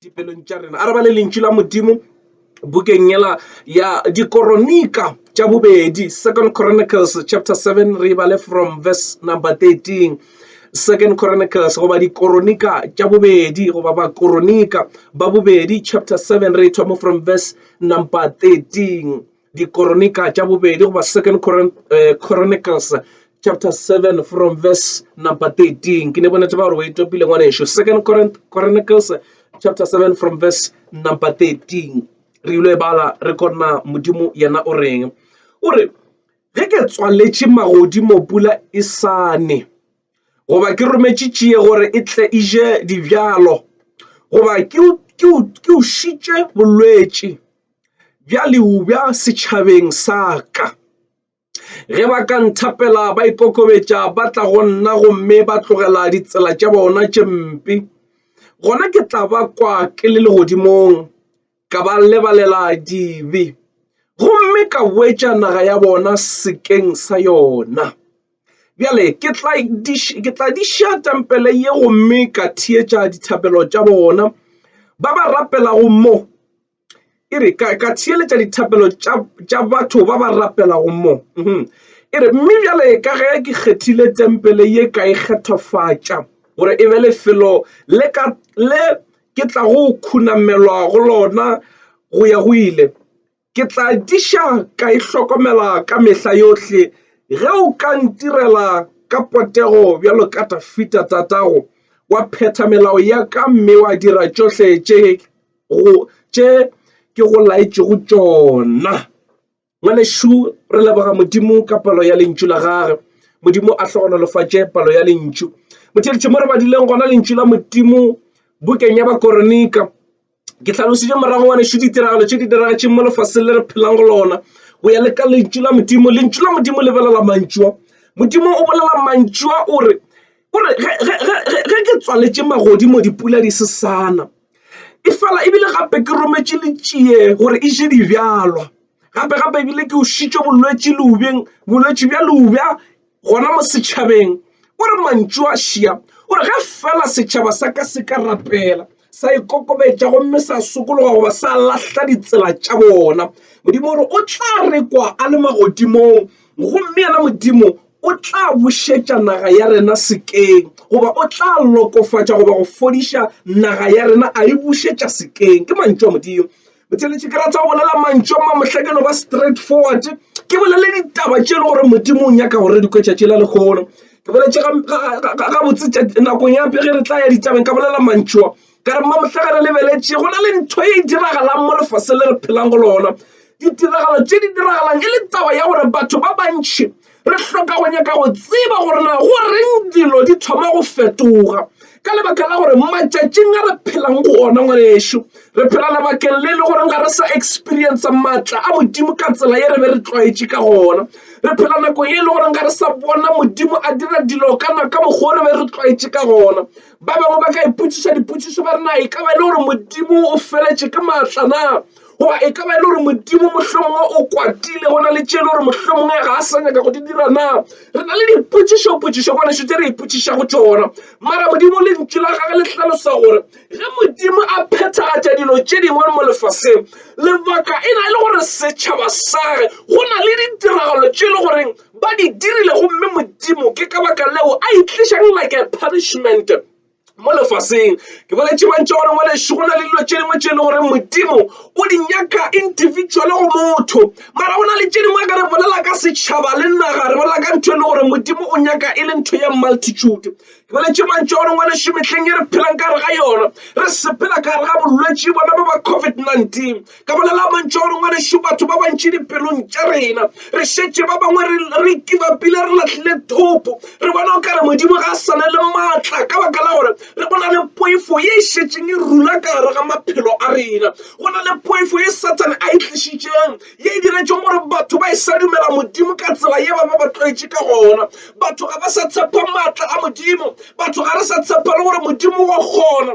dipelong tša rena a re ba le lentšu la modimo bukeng yela ya dikoronika tša bobedi second chronicles chapter 7 re bale from verse number 13 second chronicles goba dikoronika tša bobedi goba bakoronika ba bobedi chapter 7 re thoma from verse number 13 Dikoronika tša bobedi goba Second Coron uh, Chronicles chapter 7 from verse number 13 ke ne bonetse ba gore o etopile ngwaneso Second Chronicles chapter 7 from verse number 13 re ile e bala re kona modimo yena o reng o re ge ke tswaletše magodimo pula e sane goba ke rometše tšie gore e tle e je dibjalo goba ke ušitše bolwetši bja leubja setšhabeng sa ka ge ba ka nthapela ba ikokobetša ba tla go nna gomme ba tlogela ditsela tša bona tše mpe gona ke tla ba kwa ke le legodimong ka ba lebalela dibe gomme ka boetša naga ya bona sekeng sa yona bjale ke tla di ša tempele ye gomme ka theetša dithapelo tša bona ba ba rapelago mo e re ka theeletša dithapelo tša batho ba ba rapelago mo mhm. e re mme bjale ka ge ke kgethile tempele ye ka e kgethofatša gore e be lefelo le ka le ke tla go khunamelwa go lona go ya go ile ke tla diša ka e hlokomela ka mehla yohle ge o ka ntirela ka potego bjalo ka tafita tatago wa phetha melao ya ka mme wa dira tšohle tše tše ke go laetšego tšona ngwanešu re leboga modimo ka palo ya lentšu la gage modimo a hlogonolofatše palo ya lentšu motheletši mo re badileng gona lentšu la modimo bukeng ya bakoronika ke tlhalositše morago ngwanešu ditiragalo tše di diragatšeng mo lefaseng le re phelang go lona go ya le ka lentšu la modimo lentšu la modimo le bolela mantšua modimo o bolela mantšua o re O re, ge, ge, ge, ge, ge ke tswaletše magodimo dipula di se sa na. E fela e bile gape ke rometše letšie gore e je dibjalwa. Gape, gape e bile ke o šitše bolwetši leubeng, bolwetši bja leubja gona mo setšhabeng. O re mantšu a šia, o re ge fela setšhaba sa ka se ka rapela. sa ikokobetša gomme sa sokologa goba sa lahla ditsela tša bona modimo gore o tla rekwa a le magodimong gomme yena modimo o tla bušetša naga ya rena sekeng goba o tla lokofatša goba go fodiša naga ya rena a e bušetša sekeng ke mantšu a modimo botšweletši ke rata go bolela mantšu a mamohlakeno ba straight forward ke bolele ditaba tše e le gore modimo o nyaka gore di kwetšatši la lekgolo ke boletše gabotse nakong ya pege re tla ya ditabeng ka bolela mantšua ka re mmamohlagare lebeletše go na le ntho e diragalang mo lefase le re phelang go lona ditiragalo tše di diragalang e le taba ya gore batho ba bantšhi Re hloka go nyaka go tseba gore na go reng dilo di thoma go fetoga ka lebaka la gore matšatšing a re phelang go ona ngwanešu re phela lebakeng le e le goreng ga re sa experience maatla a modimo ka tsela ye re be re tlwaetše ka gona re phela nakong e le goreng ga re sa bona modimo a dira dilo ka naka mokgwa re be re tlwaetše ka gona ba bangwe ba ka ipotšiša dipotšišo ba re na e ka ba e le gore modimo o feletše ke maatla na goba e ka ba e le gore modimo mohlomongwe o kwatile go na le tše e le gore mohlomongwe ga a sa nyaka go di dira na re na le dipotšišopotšišo ka nešo tše re ipotšiša go tsona mara modimo le ntši la gage le hlalosa gore ge modimo a phethagatša dilo tše dingwe mo lefaseng lebaka e na e le gore setšhaba sage go na le ditiragalo tše e le goreng ba di dirile gomme modimo ke ka baka leo a itlišang like a punishment mo lefaseng ke boletše mantša gore ngwaneso go na le dilo tše dingwe tše e le gore modimo o di nyaka individual go motho mara go na le tše dingwe ka re bolela ka setšhaba le naga re bolela ka ntho e le gore modimo o nyaka e le ntho ya multitude ke boletše mantša gore ngwaneso metlheng e re phelang ka re ga yona re sepela ka re ga bolwetse bona ba ba covid-19 ka bolela mantšu gore ngwanešu batho ba bantši dipelong tša rena re šetše ba bangwe re kibapile re latlhile thopo re bona o kare modimo ga a sana le maatla ka baka la gore re go na le poifo ye e šetšeng e rula ka gare ga maphelo a rena go na le poifo ye sathane a e tlišitšeng ye e diretšeng gore batho ba e sa dumela modimo ka tsela ye ba ba ba tlwaetše ka gona batho ga ba sa tshepa maatla a modimo batho ga re sa tshepa le gore modimo wa kgona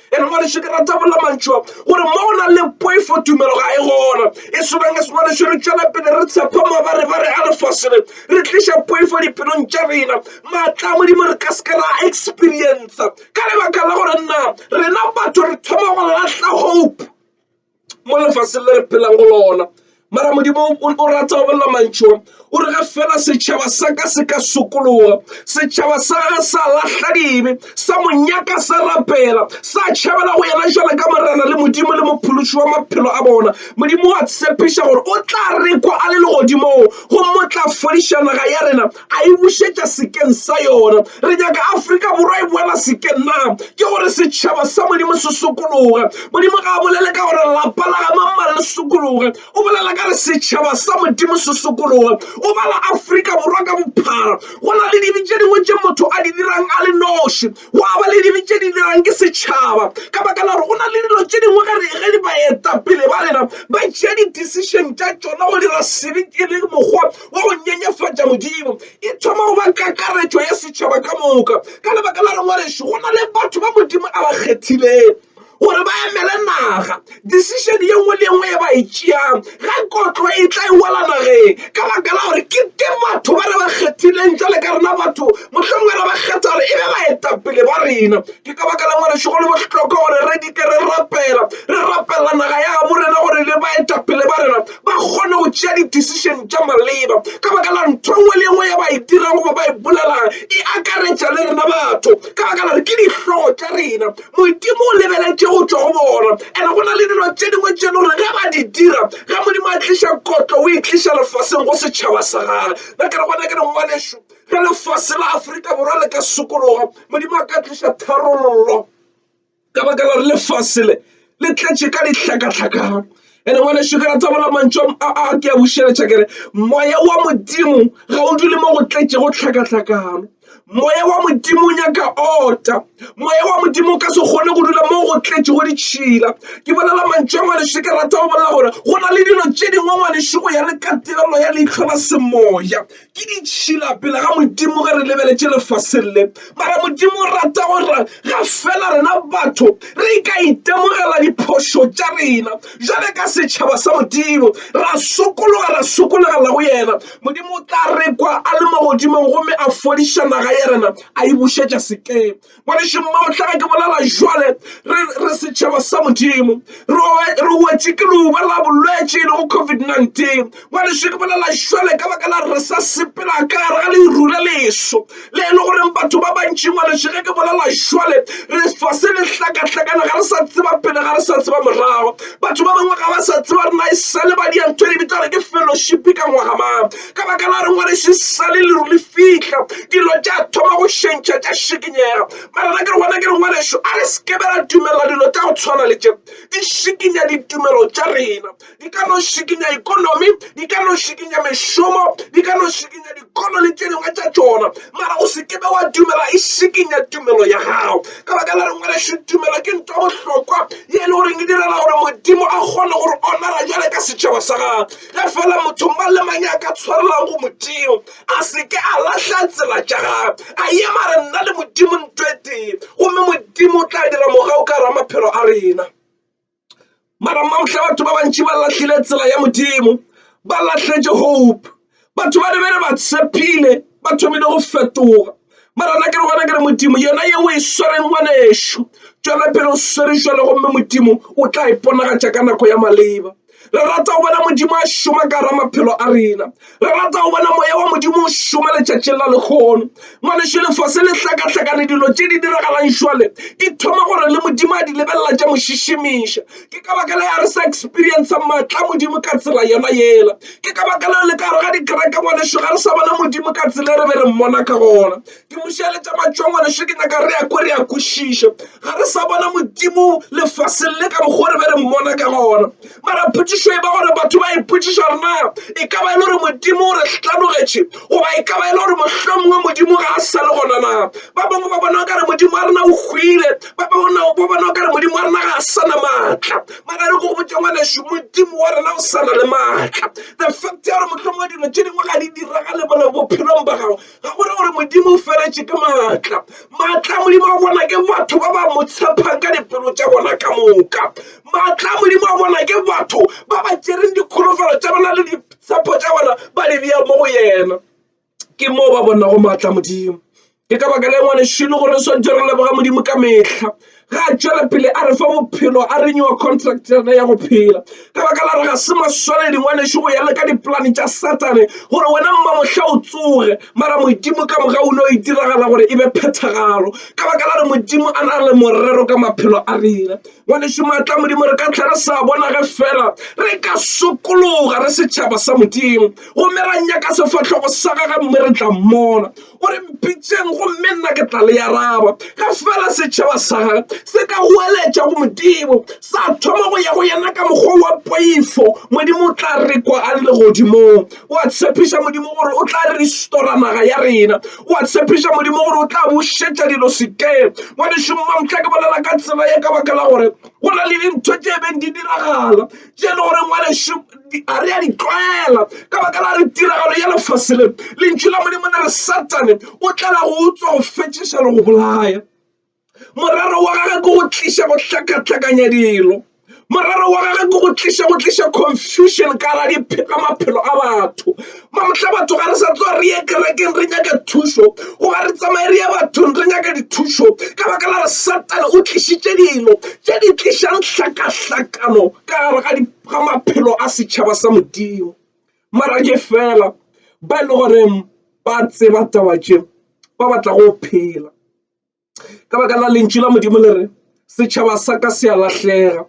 ene ngwaneso ke rata bolela mantšho gore mo go na le poifo tumelo ga e gona e swanang e sengwaneso re tšwela pele re tshepa mabare ba re a lefasene re tliša poifo diphelong tša rena maatla a modimo re ka seke ra experienca ka lebaka la gore nna rena batho re thoma go latlha hope mo lefaseng le re phelang go lona mara modimo o rata go bolela mantšho o re ge fela setšhaba sa ka se ka sokologa setšhaba sa ge sa lahla dibe sa monyaka sa rapela sa tšhabela go yena jalo ka morena le modimo le mophološi wa maphelo a bona modimo wa tshepiša gore o tla rekwa a le legodimong go motla fodiša naga ya rena a e bušetša sekeng sa yona. Re nyaka Afrika Borwa e boela sekeng na? Ke gore setšhaba sa Modimo se sokologe. Modimo ga a bolele ka gore lapa la ga mamang le sokologe, o bolela ka re setšhaba sa Modimo se sokologe. O bala Afrika Borwa ka bophara. Go na le dibe tše dingwe tše motho a di dirang a le noši. Gwa ba le dibe tše di dirang ke setšhaba ka baka la gore go na le dilo tše dingwe ge re ge di baetapele ba rena ba tšea di-decision tša tšona go dira sebe e le mokgwa wa go nyenyefatša Modimo. E thoma go ba kakaretšo ya setšhaba ka moka ka lebaka la gore ngwanešu go na le batho ba Modimo a ba kgethilego. gore ba emele naga decision ye nngwe le nngwe e ba e tšeang ga kotlo e tla e wela nageng ka baka la gore ke ke batho ba re ba kgethileng jale ka rena batho mohlomong re ba kgetha gore e be baetapele ba rena ke ka baka la ngwaneso go le bohlokwa gore re dike re rapela re rapela naga ya gabo rena gore le baetapele ba rena ba kgone go tšea di-decision tša maleba ka baka la ntho nngwe le nngwe ya ba e dirang goba ba e bolelang e akaretša le rena batho ka baka la gore ke dihlogo tša rena Modimo o lebeletše go tšwa go bona, and go na le dilo tše dingwe tše le gore ge ba di dira, ge Modimo a tliša kotlo o e tliša lefaseng go setšhaba sa gage. Ba ke re gona ke dingwanešu ge lefase la Afrika Borwa le ka sokologa, Modimo a ka tliša tharollo ka baka la gore lefase le le tletše ka dihlakahlakana. ene ngwaneso ke rata bola mantšu a ke a bušeletša kere moya wa modimo ga o dule mo go tletše go tlhakatlhakano moya wa modimo o nyaka ota moya wa modimo o ka se kgone go dula mo go tletše go ditšhila ke bolela mantšu a ngwaneso ke rata go bolela gore go na le dilo tše dingwe ngwaneso go ya le katelelo ya leitlho la semoya ke ditšhila pele ga modimo ge re lebeletše lefaseng le mara modimo o rata gore ga fela rena batho re ka itemogela diphošo tša rena jale ka setšhaba sa modimo ra sokologa ra sokologela go yena modimo o tla rekwa a le mo godimong gomme a fodiša naga ya rena a e bušetša sekeng ngwanešu mmao tla ke bolela jwale re setšhaba sa modimo re wetše ke leuba la bolwetše e lego covid-19 ngwanešu ke bolela jwale ka baka la re sa sepela ka gare ga leru le leso le e le goreng batho ba bantši ngwanešu ge ke bolela jwale re fa se le hlakahlakana ga re sa tseba pele ga re sa tseba morago batho ba bangwe ga ba sa tseba re na e sa le ba diantho di bitsa gore ke fellowship ka ngwaga mang ka baka la rengwe re se sale leru le fihla dilo tša thoma go šentšha tša šikinyega mara na ke re gona ke re ngwaneso a re sekebe ra dumela dilo tša go tshwana le tše di šikinya ditumelo tša rena di ka no šikinya ikonomi di ka no šikinya mešomo di ka no šikinya dikolo le tše dingwe tša tšona mara o sekebe wa dumela e šikinya tumelo ya gago ka baka la rengwe re tumelo ke ntho bohlokwa ye e le goreng e direla gore modimo a kgone gore onara jale ka setšhaba sa gagwe ge fela motho mang le mang a ka tshwarelang go modimo a seke a lahla tsela tša gagwe a ye mare nna le modimo ntwe tee gomme modimo o tla dira mogao ka ra maphelo a rena mara mamohla batho ba bantši ba lahlile tsela ya modimo ba lahletše hope batho ba re be re ba tshepile ba thomile go fetoga mara na ke re gona ke re modimo yona ye o e swereng ngwanešu tšwela pele o swere jalo gomme modimo o tla iponagatša ka nako ya maleba re rata go bona modimo a šoma ka ra maphelo a rena re rata go bona moya wa modimo o šoma letšatšing la lekgono ngwanešu lefase le hlakahlakane dilo tše di diragalang šwale di thoma gore le modimo a di lebelela tša mo šišimiša ke ka baka la ya re sa experience matla modimo ka tsela yona yela ke ka baka la le ka re ga dikereke ngwaneso ga re sa bona modimo ka tsela e re be re mmona ka gona ke mošeletša matšwa ngwaneso ke nyaka re ya ko re ya kwešiša ga re sa bona modimo lefaseng le ka mokgwa re be re mmona ka gona mara phutišo e ba gore batho ba ipotšiša rena e ka ba e le gore modimo o re hlanogetše goba e ka ba e le gore mohlomongwe modimo ga a sa le gona na ba bangwe ba bona ka re modimo wa rena o hwile ba bona o bona o kare modimo wa rena ga a sana maatla mara re go botse ngwaneso modimo wa rena o sana le maatla the fact ya gore motlhomongwe dilo tse dingwe ga di diragale bone bophelong ba gago ga gore gore modimo o feletše ke maatla maatla a modimo a bona ke batho ba ba mo tshepang ka dipelo tša bona ka moka maatla a modimo a bona ke batho ba ba tšereng dikholofelo tša bona le ditshepo tša bona ba di bea mo go yena ke moo ba bonago maatla a modimo ke ka baka le ngwanešilo gore re swantse re leboga modimo ka mehla ga a tšwela pele a re fa bophelo a re newa contract yona ya go phela ka baka la re ga se maswanedi ngwanešo go ya le ka dipolane tša satane gore wena mma mohla o tsoge mara modimo ka moga o ne o itiragala gore e be phethagalo ka baka la re modimo a na le morero ka maphelo a rena Ngwanešu Maatla a Modimo, re ka tlha re sa bona ge fela re ka sokologa re setšhaba sa Modimo, gomme ra nyaka sefahlogo sa gage, mme re tla mmona. O re mpitšeng, gomme nna ke tla le araba. Ge fela setšhaba sa gage se ka goeletša go Modimo, sa thoma go ya go yena ka mokgwa wa poifo, Modimo o tla re kwa a le legodimong. O a tshepiša, Modimo, gore o tla restora naga ya rena. o a tshepiša modimo gore o tla bušetša dilo sekeng ngwanešong mamtla ke bolela ka tsela ye ka baka la gore go na le dintho tše e beng di diragala tše e le gore ngwanešu ga re a di tlwaela ka baka la re tiragalo ya lefase le lentšu la modimo le re satane o tlala go utswa go fetšiša le go bolaya morero wa gagwe ke go tliša go hlakahlakanya dilo morero wa gagwe ke go tliša go tliša confusion ka ra diphega maphelo a batho mamohla batho ga re sa tloa re ye kerekeng re nyaka thušo goba re tsamaye re ye bathong re nyaka dithušo ka baka la re satane o tlišitše dilo tše di tlišang hlakahlakano ka gare ga maphelo a setšhaba sa modimo mara ke fela ba e le goreng ba tseba taba tše ba batla go phela ka baka la lentšu la modimo le re setšhaba sa ka se a lahlega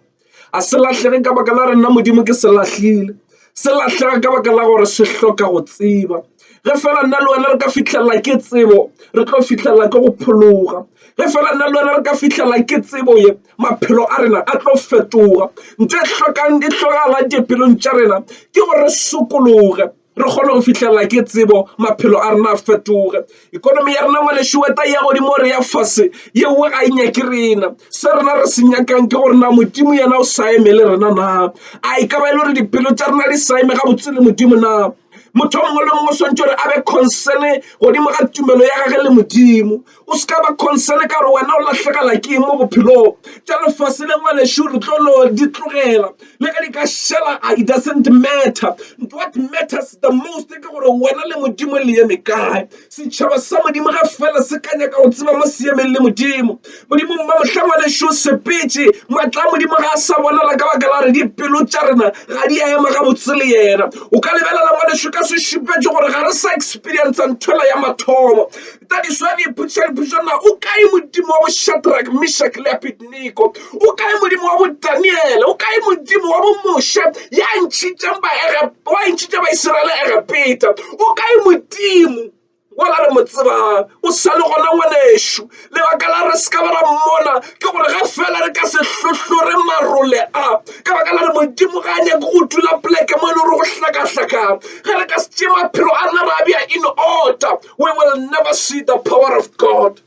a se lahlege ka baka la re nna modimo ke se lahlile se lahlega ka baka la gore se hloka go tseba ge fela nna le wena re ka fitlhelela ke tsebo re tlo fitlhelela ke go phologa ge fela nna le wena re ka fitlhelela ke tsebo ye maphelo a rena a tlo fetoga ntho e tlhokang e tlhokagala dipelong tša rena ke gore re sokologe re kgone go fitlhelela ke tsebo maphelo a rena a fetoge ikonomi ya rena ngwanešu weta ya godimo re ya fase yeo ga e nyake rena se rena re se nyakang ke gore na modimo yena o sa eme le rena na a e ka ba e le gore dipelo tša rena di sa eme ga botse le modimo na motho mongwe le mongwe o swantse gore a be consene godimo ga tumelo ya gage le modimo O se ka ba concern ka gore wena o lahlegela ke eng mo bophelong tša lefase le ngwanešu re tlo no di tlogela le ge di ka šela it doesn't matter what matters the most ke gore wena le modimo le eme kae setšhaba sa modimo ga fela se ka nyaka go tseba mo se emeng le modimo modimo ba mohla ngwanešu sepetse matla a modimo ga a sa bonala ka baka la re dipelo tša rena ga di a ema gabotse le yena o ka lebelela ngwanešu ka sešupetšo gore ga re sa experience nthwela ya mathomo That is why they put shall put na o kae modimo wa bo Shadrach Meshach le Abednego o kae modimo wa bo Daniel o kae modimo wa bo Moshe ya ntšhitšang ba ega wa ntšhitša ba Israel ega peta o kae modimo wala re mo tsebang o sa le gona ngwanešu lebaka la re se ka ba ra mmona ke gore ga fela re ka se hlohlore marole a ka baka la re modimo ga a nyake go dula poleke mo e le gore go hlakahlakana ge re ka se tšee maphelo a rena ra bja in order we will never see the power of god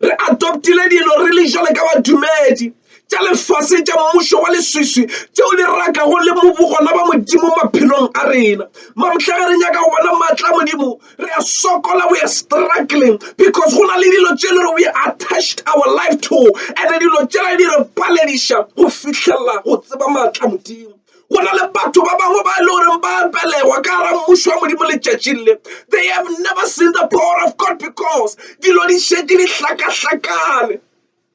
re adoptile dilo re le jale ka badumedi tša lefase tša mmušo wa leswiswi tšeo di rakago le bobogona ba modimo maphelong a rena mamhla ge re nyaka go bona maatla modimo re a sokola we are struggling because go na le dilo tše le gore we attached our life to and dilo tšela di re palediša go fitlhelela go tseba maatla modimo go na le batho ba bangwe ba e le goreng ba belegwa ka gara mmušo wa modimo letšatšing le they have never seen the power of god because dilo di šetše di hlakahlakane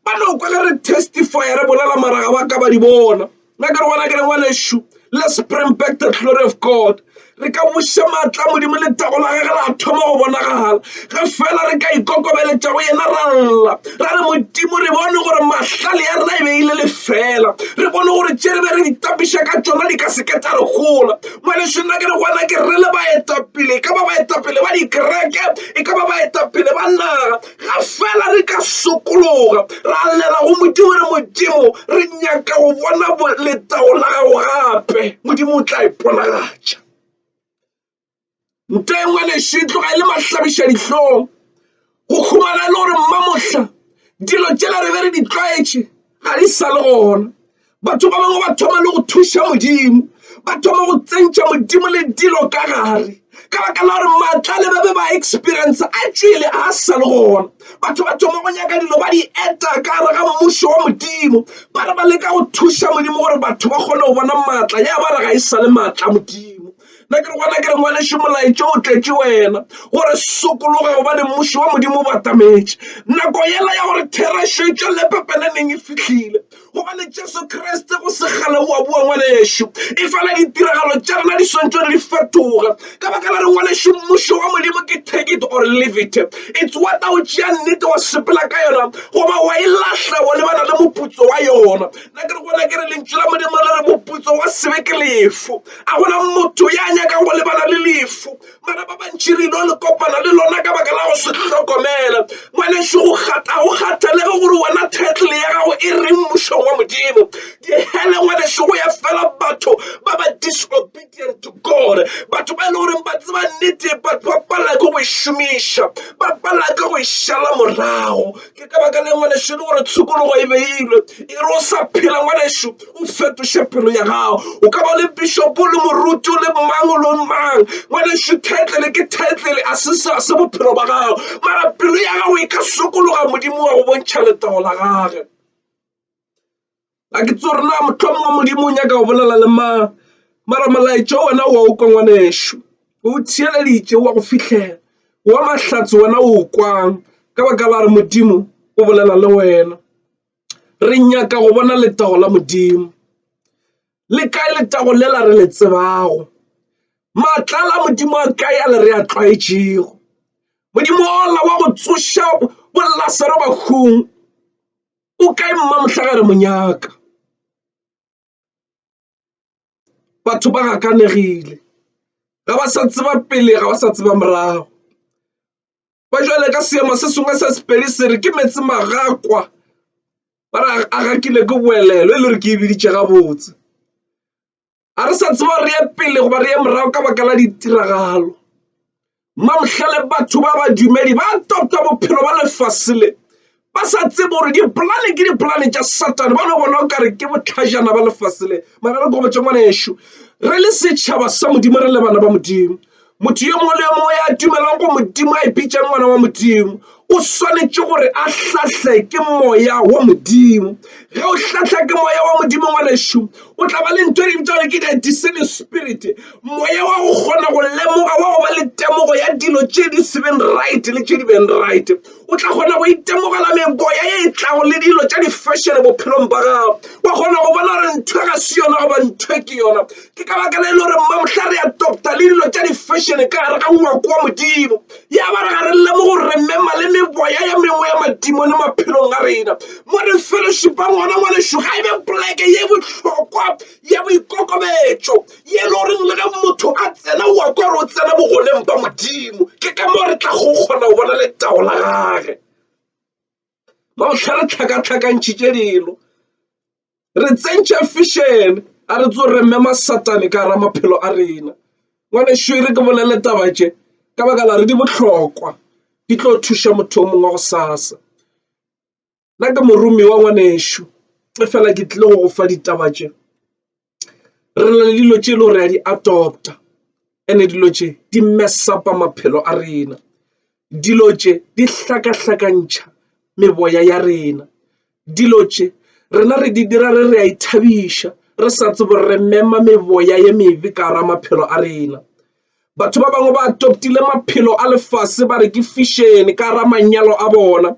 ba no kwa le re testify re bolela maraga ba ka ba di bona nna ke re bona ke re ngwanešu let's bring back the glory of god Re ka buša maatla a Modimo letago la gagwe la thoma go bonagala ge fela re ka ikokobeletša go yena ra lla ra re, Modimo, re bone gore mahlale ya rena e be e le lefela. Re bone gore tše re be re di tapiša ka tšona di ka se ke tša re gola. Ngwanešu, nna ke re go wena ke re le baetapele, e ka ba baetapele ba dikereke, e ka ba baetapele ba naga, ga fela re ka sokologa ra llela go modimo re modimo re nyaka go bona letago la gago gape modimo o tla iponagatša nto engwe leso e tloga e le mahlabiša dihlong go khumana e le gore mmamohla dilo tšela re be re di tlwaetše ga di sa le gona batho ba bangwe ba thoma le go thuša modimo ba thoma go tsentša modimo le dilo ka gare ka baka la gore maatla le ba be ba experience a tšwele a sa le gona batho ba thoma go nyaka dilo ba di eta ka gare ga mmušo wa modimo ba re ba leka go thuša modimo gore batho ba kgone go bona maatla ya ba re ga e sa le maatla modimo na ke re gona ke re ngwaneše molaetša o tletše wena gore sokologa gobane mmuši wa modimo o batametše nako yela ya gore therešo e tšwelele pepele neng e fihlile gobane jesu kriste go segale o a bua ngwanešu e fela ditiragalo tša rena di swantšo di fetoga ka baka la re ngwanešu mmušo wa modimo ke take it or leave it it's what o tšea nnete wa sepela ka yona goba wa e lahla wa lebana le moputso wa yona nna ke re gona ke re lentšu la modimo le re moputso wa sebe ke lefu A gona motho ya nyakang go lebala le lefu, mara ba bantši re ilo le kopana le lona ka baka la go se hlokomela. Ngwanešu, go kgatha go kgathalege gore wena title ya gago e reng mmušong wa Modimo. Dihele ngwanešu, go ya fela batho ba ba disobedient to God, batho ba e le goreng ba tseba nnete but ba palela ke go e šomiša, ba palela ke go e šala morago. ke ka baka le ngwanešu le gore tshokologo e beilwe e re o sa phela ngwanešu o fetoše pelo ya gago o ka ba le bishopo le moruti o le mang o lo mang ngwanešu titlele ke titlele a se sa se bophelo ba gago mara pelo ya gago e ka sokologa modimo wa go bontšha letago la gage A ke tsore na mohlomongwe Modimo o nyaka go bolela le mang, mara molaetša wena wa o kwa ngwanešu. O o theeleditše wa go fihlela, wa mahlatse wena o o kwang ka baka la gore Modimo o bolela le wena. Re nyaka go bona letago la Modimo. Le kae letago lela re le tsebago? Maatla a la Modimo a kae a le re a tlwaetšego? Modimo ola wa go tsoša boLasaro bahung. O kae mma Mohlagare monyaka? Batho ba gakanegile ga ba sa tseba pele ga ba sa tseba morago ba jale ka seema se sengwe se sepedi se re ke meetse magakwa ba re a gakile ke boelelo e le gore ke e biditše gabotse. a re sa tseba re ye pele goba re ye morago ka baka la ditiragalo mamohlale batho ba badumedi ba topta bophelo ba lefase le ba sa tsebe gore dipolane ke dipolane tša satane ba no bona o kare ke botlhajana ba lefase le mara re gobatšangwana ešo re le setšhaba sa modimo re le bana ba modimo Motho yo mongwe le yo mongwe ya dumelang go Modimo a ipitšang ngwana wa Modimo o swanetše gore a hlahle ke moya wa Modimo. Ge o hlahla ke moya wa Modimo ngwanešu o tla ba le ntho e di bitšang ke the discerning spirit, moya wa go kgona go lemoga wa go ba le temogo ya dilo tše di se beng right le tše di beng right. O tla kgona go itemogela meboya ye e tlago le dilo tša di-fashion bophelong ba gago wa kgona go bona gore ntho ga se yona goba ntho ke yona ke ka baka le e le gore mma mohla re adopta le dilo tša di-fashion ka gare ga ngwako wa modimo ya ba re ga re lemo gore re mema le meboya ya mengwe ya madimo le maphelong a rena mo re fellowshipa ngwana ngwanešu ga e be poleke ye bohlokwa ya boikokobetšo ye le goreng le ge motho a tsena ngwako re o tsena bogoneng ba modimo ke ka moo re tla go kgona go bona letago la gage ba go tlha re tlhakatlhakantšhitše dilo re tsentšha fišene a re tso re mme masatane ka ra maphelo a rena ngwane šere ke bolele taba tše ka baka la re di bohlokwa di tlo thuša motho o mongwe go sasa nna ke moromiwa ngwanešu e fela ke tlile go go fa ditaba tše. re na le dilo tše e le gore a di adopta and-e dilo tše di mess-upa maphelo a rena. Dilo tše di hlakahlakantšha meboya ya rena. Dilo tše rena re di dira re re a ithabiša re sa tsebe gore re mema meboya e mebe ka gare ga maphelo a rena. Batho ba bangwe ba toptile maphelo a lefase ba re ke fishene ka ra manyalo a bona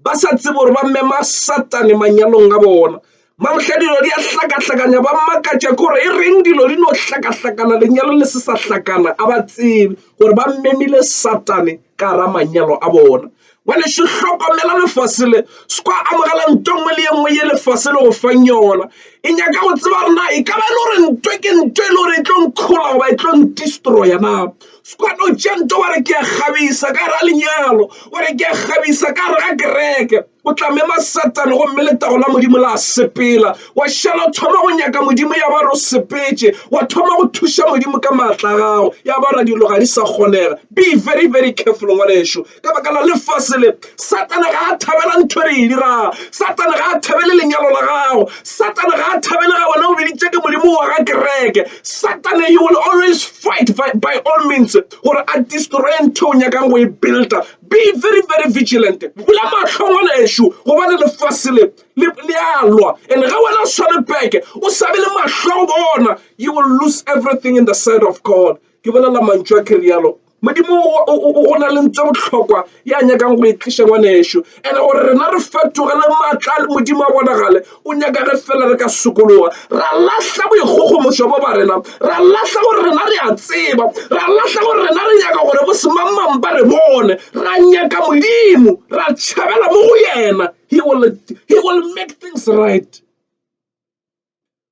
ba sa tsebe gore ba mema satane manyalong a bona. Mamhla dilo di a hlakahlakanya ba makatša ke gore e reng dilo di no hlakahlakana lenyalo le se sa hlakana a ba tsebe gore ba memile satane ka ra manyalo a bona. bjale se hlokomela lefase le se kwa amogela nto nngwe le ye nngwe ye lefase le go fang yona e nyaka go tseba rena e ka ba e le gore nto ke nto e le gore e tlo nkgola goba e tlo ndestroya na se kwa no tša nto wa re ke a kgabisa ka ra lenyalo wa re ke a kgabisa ka re ga kereke o tla mema satane gomme letago la modimo la sepela wa šala o thoma go nyaka modimo ya ba re o sepetše wa thoma go thuša modimo ka maatla gago ya ba ra dilo ga di sa kgonega be very very careful ngwaneso ka baka la lefase le satane ga a thabela ntho re e dirago satane ga a thabele lenyalo la gago satane ga a thabele ga wena o biditse ke modimo wa ga kereke satane he will always fight by, by all means gore a destroye ntho o nyakang go e builder be very very vigilant bula matlho ngwana ešo gobane lefase le le a lwa and ga wena o sware beke o sabe le matlho bona you will lose everything in the side of god ke bolela mantšu a ke realo Modimo o na le ntho bohlokwa ya nyakang go e tliša ngwanešu and gore rena re fetogele maatla le modimo a bonagale o nyaka re fela re ka sokologa ra lahla boikgogomošo bo ba rena ra lahla gore rena re a tseba ra lahla gore rena re nyaka gore bo semangmang ba re bone ra nyaka modimo ra tšhabela mo go yena he will, he will make things right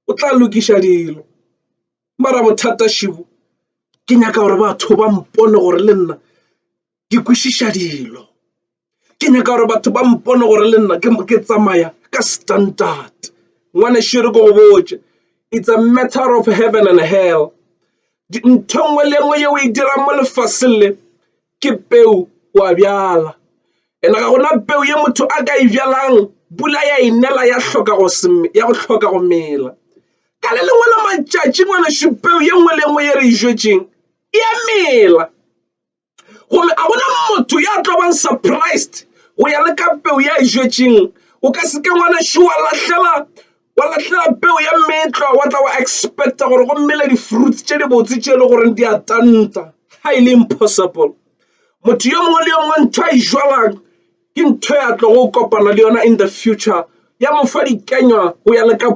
o tla lokiša dilo. Mara bothata šebo ke nyaka gore batho ba mpone gore le nna ke kwešiša dilo. Ke nyaka gore batho ba mpone gore le nna ke tsamaya ka standard. Ngwanešu e re ke go botše, it's a matter of heaven and hell. Ntho e nngwe le e nngwe yeo o e dirang mo lefaseng le, ke peu o a bjala ena ga gona peu ye motho a ka e bjalang pula ya inela ya hloka go ya go hloka go mela ka le lengwe la matšatši ngwana šupeu ye nngwe le nngwe ye re e jwetseng e a mela gomme a gona motho ya tlo bang surprised go ya le ka peu ya e jwetseng o ka se ke ngwana šiwa lahlela Wa lahlela peu ya meetlwa, wa tla wa expecta gore go mele di-fruits tše dibotse tše e le goreng di a tanta. Highly impossible. Motho yo mongwe le yo mongwe ntho a e jwalang ke ntho ya tlogo kopana le yona in the future, ya mo fa dikenywa go ya le ka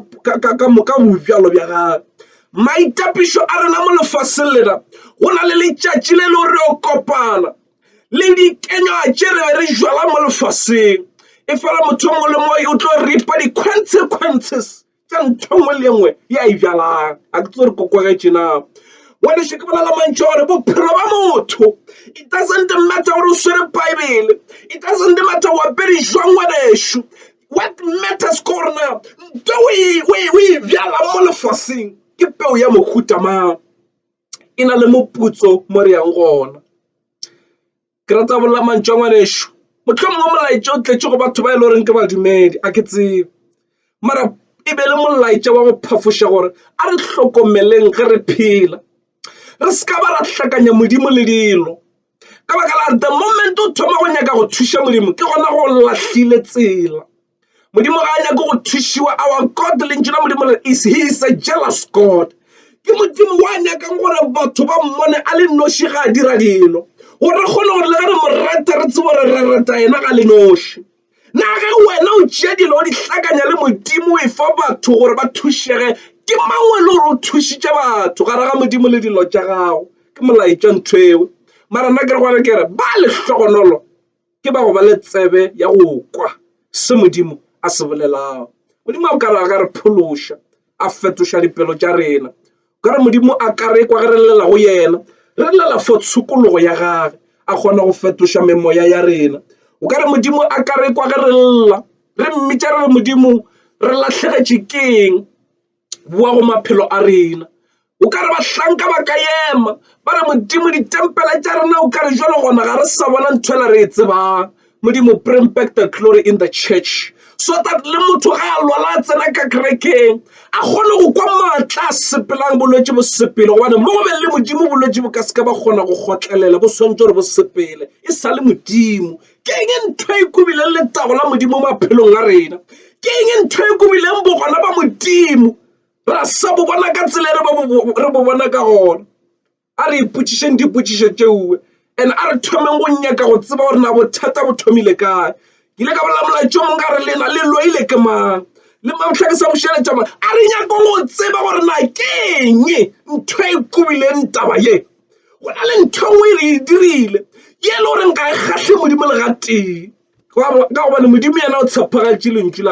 bobjalo bja gagwe. Maitapišo a rena mo lefaseng lena, go na le letšatši le e le gore re yo kopana. le dikenywa tše re be re jala mo lefaseng e fela motho mongwe le mongwe o tlo ripa di-consequences tša ntho nngwe le nngwe ya e jalang a ke tse re kokogetše na ngwaneše ke bolela mantšho gore bophelo ba motho it doesn't matter gore o swere baebele it doesn't matter o apere jwang ngwanešu what matters ke gore na nto o e bjala mo lefaseng ke peo ya mohuta mang e na le moputso mo re yang gona. Ke rata go bolela mantšu a ngwanešu, mohlomongwe molaetša o tletše go batho ba e le goreng ke badumedi a ke tsebe, mara e be e le molaetša wa go phafoša gore a re hlokomeleng ge re phela re se ka ba ra hlakanya Modimo le dilo ka baka la the moment o thoma go nyaka go thuša Modimo ke gona go lahlile tsela. Modimo ga a nyake go thušiwa our God lentšu la Modimo le is he is a jealous God ke Modimo wa nyakang gore batho ba mmone a le noši ga a dira dilo gore re kgone gore le ge re mo rata re tsebo gore re rata yena ga le noši na ge wena o tšea dilo o di hlakanya le Modimo o e fa batho gore ba thušege ke mang o e le gore o thušitše batho gare ga Modimo le dilo tša gago ke molaetša ntho eo mara nna ke re gona ke re ba lehlogonolo ke ba go ba le tsebe ya go kwa se modimo a se bolelago modimo a kare a ka re phološa a fetoša dipelo tša rena ka re modimo a ka re kwa ge re llela go yena re llela for tshokologo ya gage a kgona go fetoša memoya ya rena o ka re modimo a ka re kwa ge re lla re mmitša re re modimo re lahlegetše keng boa go maphelo a rena o ka re bahlanka ba ka ema ba re modimo ditempele tša rena o ka re jalo gona ga re sa bona ntho ela re e tsebang modimo bring back the glory in the church so that le motho ga a lwala a tsena ka kerekeng a kgone go kwa maatla a sepelang bolwetse bo sepele gobane mo go be le modimo bolwetse bo ka seke ba kgona go kgotlelela bo swantse gore bo sepele e sa le modimo ke eng e ntho e kubileng letago la modimo maphelong a rena ke eng e ntho e kubileng bogona ba modimo ra sa bo bona ka tsela e re bo bona ka gona a re ipotšišeng dipotšišo tšeuwe and a re thomeng go nyaka go tseba gore na bothata bo thomile kae ke ile ka bolela molaetša mong ka re lena le loile ke mang le mamotlha ke sa bušeletša ma a re nyakong go tseba gore na ke eng ntho e kubileng taba ye go na le ntho nngwe e re e dirile ye e le goreng ga e kgatlhe modimo le gatee ka gobane modimo yena o tshepagatše lentšu la